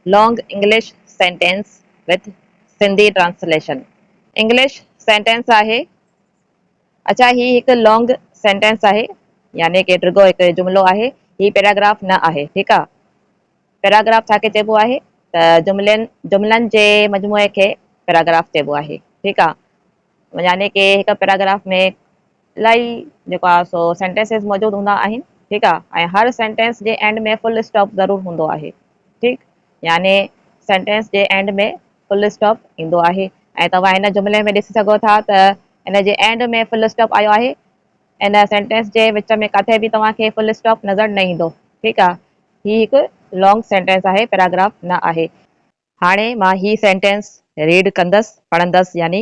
Long English Sentence with Sindhi Translation، English Sentence آهي، اڇا هي هڪ Long Sentence آهي يعني ڪي ڊگهو هڪ جملو آهي، هي پيراگراف نه آهي، ٺيڪ آ. پيراگراف ڇا کي چئبو آهي ته جملن جملن جي مجموعي کي پيراگراف چئبو آهي، ٺيڪ آ. يعني ڪي هڪ پيراگراف ۾ لاء جيڪو آهي سو سينٽينسز موجود هوندا آهن ٺيڪ آهي ۽ هر سينٽينس جي اينڊ ۾ فل اسٽاپ ضرور هوندو آهي ٺيڪ يعني سينٽينس جي اينڊ ۾ فل اسٽاپ ايندو آهي ۽ توهان هن جملي ۾ ڏسي سگهو ٿا ته ان جي اينڊ ۾ فل اسٽاپ آيو آهي ان سينٽينس جي وچ ۾ ڪاٿي به توهان کي فل اسٽاپ نظر نه ايندو ٺيڪ آهي هي هڪ لانگ سينٽينس آهي پيراگراف نه آهي هاڻي مان هي سينٽينس ريڊ ڪندس پڙهندس يعني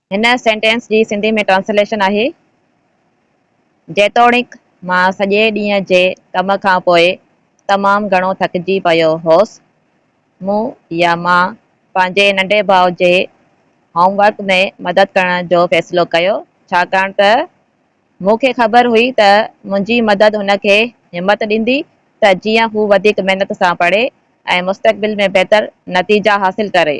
هن سينٽينس جي سنڌي ۾ ٽرانسليشن آهي، جيتوڻيڪ مان سڄي ڏينهن جي ڪم کان پوء تمام گهڻو ٿڪجي پيو هوس، مون يا مان پنهنجي ننڍي ڀاء جي هوم ورڪ ۾ مدد ڪرڻ جو فيصلو ڪيو، ڇاڪاڻ ته مون کي خبر هئي ته منهنجي مدد هن کي همت ڏيندي ته جيئن هو وڌيڪ محنت سان پڙهي ۽ مستقبل ۾ بهتر نتيجا حاصل ڪري.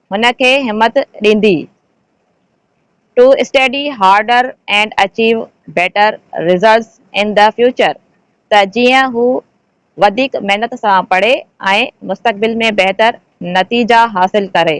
هن کي همت ڏيندي to study harder and achieve better results in the future ته جيئن هو وڌيڪ محنت سان پڙهي ۽ مستقبل ۾ بهتر نتيجا حاصل ڪري.